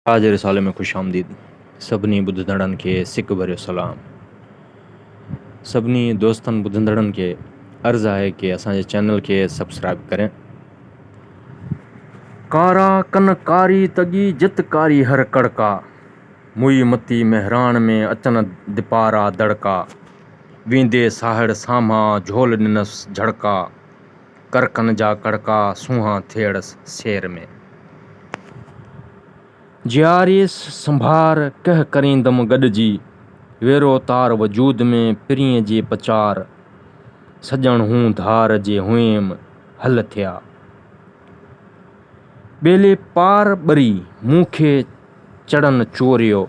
تاج رسالي ۾ خوش آمديد سڀني ٻڌندڙن کي سڪ ڀريو سلام سڀني دوستن ٻڌندڙن کي عرض آهي ڪي اسان جي چينل کي سبسڪرائب ڪرين. ڪارا ڪن ڪاري تڳي جت ڪاري هر ڪڙڪا موئي متي مهراڻ ۾ اچن دپارا دڙڪا ويندي ساهڙ سامهان جهول ڏنس جهڙڪا. ڪرڪن جا ڪڙڪا سونهان ٿيئڙس سير ۾. جياريس سنڀار ڪهه ڪريندم گڏجي. ويرو تار وجود ۾ پرينء جي پچار. سڄڻ هون ڌار جي هئيم هل ٿيا. ٻيلي پار ٻري مون کي چڙن چوريو.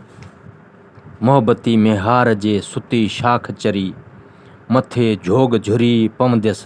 محبتي ميهار جي ستي شاخ چري. مٿي جهوڳ جهري پونديس.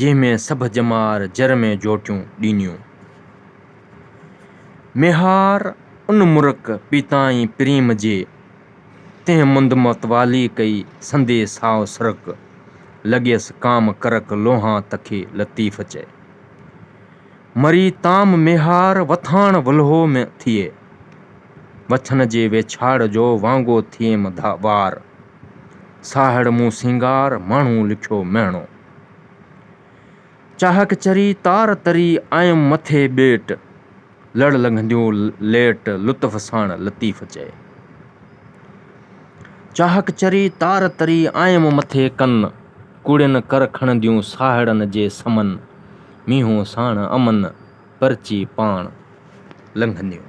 جنهن ۾ سڀ ڄمار جر ۾ جوٽيون ڏينيون. ميهار ان مرڪ پيتائين پريم جي، تنهن مند متوالي ڪئي سندي سائو سرڪ، لڳيس ڪام ڪرڪ لونهان تکي لطيف چئي. مري تام ميهار وٿاڻ ولهو ۾ ٿئي، وڇن جي ويڇاڙ جو وانگو ٿئيم وار، ساهڙ مون سينگار ماڻهو لکيو مهڻو. چاهڪ چري تار تري آيم مٿي ٻيٽ. لڙ لنگهنديون ليٽ لطف ساڻ لطيف چئي. چاهڪ چري تار تري آيم مٿي ڪن. ڪوڙين ڪر کڻنديون ساهڙن جي سمن. مينهون ساڻ امن پرچي پاڻ لنگهنديون.